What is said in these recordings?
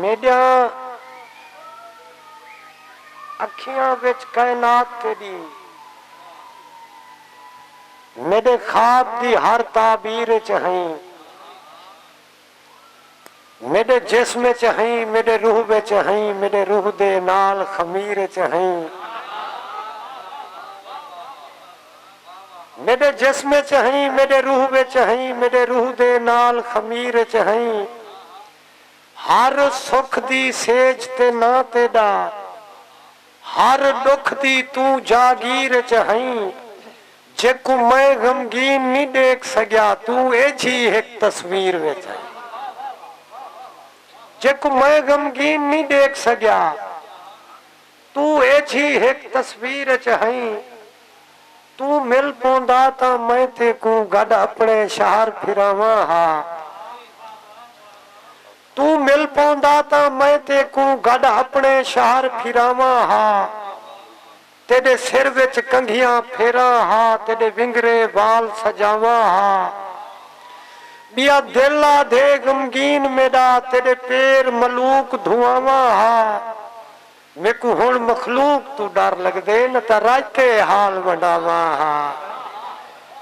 میڈیاں اکھیاں وچ کائنات تیڈی میڈے خواب دی ہر تعبیر اچ ہئیں میڈے جسم اچ ہئیں میڈے روح وچ ہئیں میڈے روح دے نال خمیر اچ ہئیں۔ میݙے جسم اچ ہئیں میݙے روح وچ ہئیں میݙے روح دے نال خمیر اچ ہئیں ہر سکھ دی سیج تے ناں تیݙا ہر ݙکھ دی توں جاگیر اچ ہئیں جیکوں میں غمگین نی ݙیکھ سڳیا توں ایجھی ہک تصویر وچ ہئیں جیکوں میں غمگین نی ݙیکھ سڳیا۔ توں ایجھی ہک تصویر اچ ہئیں۔ توں مل پوندا تاں میں تیکوں گڈ اپنڑے شہر پھراواں ہا۔ توں مل پوندا تاں میں تیکوں گڈ اپنڑے شہر پھراواں ہا۔ تیڈے سر وچ کنگھیاں پھیراں ہا تیڈے ونگرے وال سجاواں ہا۔ بیا دل آدھے غمگین میڈا تیڈے پیر ملوک دھواواں ہا۔ میکوں ہݨ مخلوق توں ݙر لڳدے نہ تاں رائتے اے حال ونڈاواں ہا۔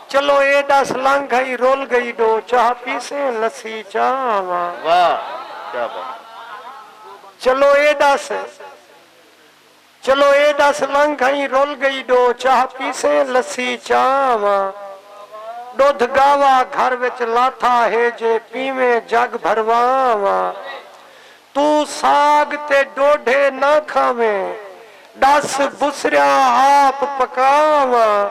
چلو اے ݙس لنگھ ہئی رل ڳئی ݙو چاہ پیسیں لسی چاہ آواں۔ واہ کیا بات ہے۔ چلو اے ݙس چلو اے ݙس لنگھ ہئی رل ڳئی ݙو چاہ پیسیں لسی چاہ آواں۔ ݙدھ ڳاوا گھر وچ لاتھا ہے جے پیویں جڳ بھرواں آواں۔ توں ساگ تے ڈوڈھے نہ کھاویں ڈس بسریاں آپ پکا آواں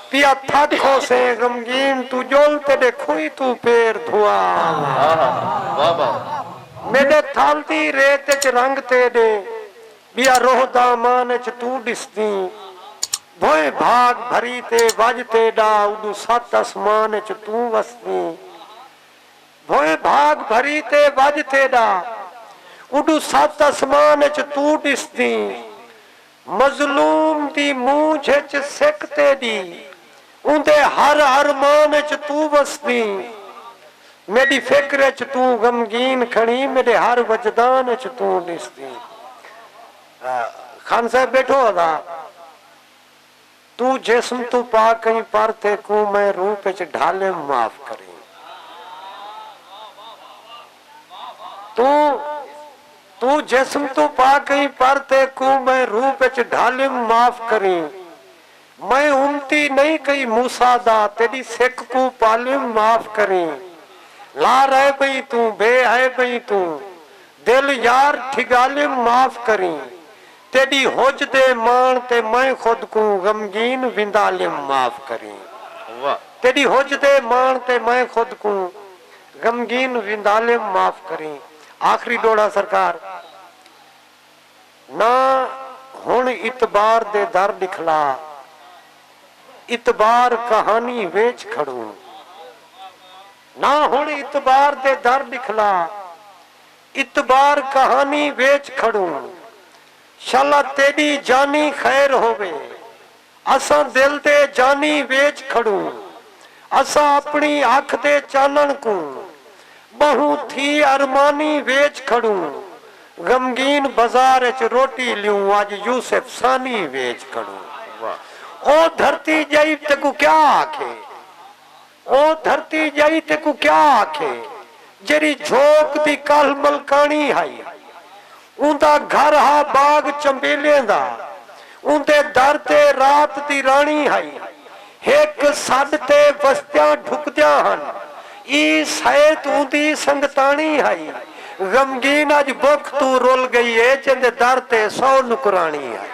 پیا تھک ہوسیں غمگین توں جل تیڈے کھوئی توں پیر دھوا آواں میڈے تھل دی ریت اچ رنگ تیڈے بیا روح دامان اچ توں ڈسدیں بھوئیں بھاگ بھری تے وج تیڈا اڈوں ست اسمان اچ توں وسدیں بھوئیں بھاگ بھری تے وڄ تیݙا۔ اݙوں ست اسمان اچ توں ݙسدیں۔ مظلوم دی مونجھ اچ سک تیݙی۔ اوندے ہر ارمان اچ توں وسدیں۔ میݙی فکر اچ توں غمگین کھڑیں میݙے ہر وجدان اچ توں ݙسدیں۔ خان صاحب ٻیٹھو ہا تاں۔ توں جسم توں پاک ایں پر تیکوں میں روپ اچ ڈھالیم معاف کریں توں توں جسم توں پاک ایں پر تیکوں میں روپ اچ ڈھالیم معاف کریں میں امتی نئیں کئی موسی دا تیڈی سک کوں پالیم معاف کریں لا ریب ایں توں بے عیب ایں توں دل یار ٹھگالیم معاف کریں تیݙی حج دے ماݨ تے میں خود کوں غمگین ویندالیم معاف کریں واہ۔ تیݙی حج دے ماݨ تے میں خود کوں غمگین ویندالیم معاف کریں آخری ݙوہڑا سرکار نہ ہݨ اعتبار دے در ݙکھلا اعتبار کہانی ویچ کھڑوں نہ ہݨ اعتبار دے در ݙکھلا اتبار کہانی ویچ کھڑوں۔ شالا تیڈی جانی خیر ہووے۔ اساں دل دے جانی ویچ کھڑوں۔ اساں اپنی اکھ دے چانن کوں۔ بہوں تھی ارمانی ویچ کھڑوں۔ غمگین بزار اچ روٹی لیوں اج یوسف ثانی ویچ کھڑوں۔ او دھرتی جئیب تیکوں کیا آکھے۔ او دھرتی ڄائی تیکوں کیا آکھے جیڑھی جھوک دی کالھ ملکاݨی ہئی۔ اوندا گھر ہا باغ چنبیلیاں دا۔ اوندے در تے رات دی راݨی ہئی۔ ہک سݙ تے وستیاں ڈھکدیاں ہن۔ ای سئیت اوندی سنگتاݨی ہئی۔ غمگین اڄ بکھ توں رل ڳئی اے جیندے در تے سو نکراݨی ہئی۔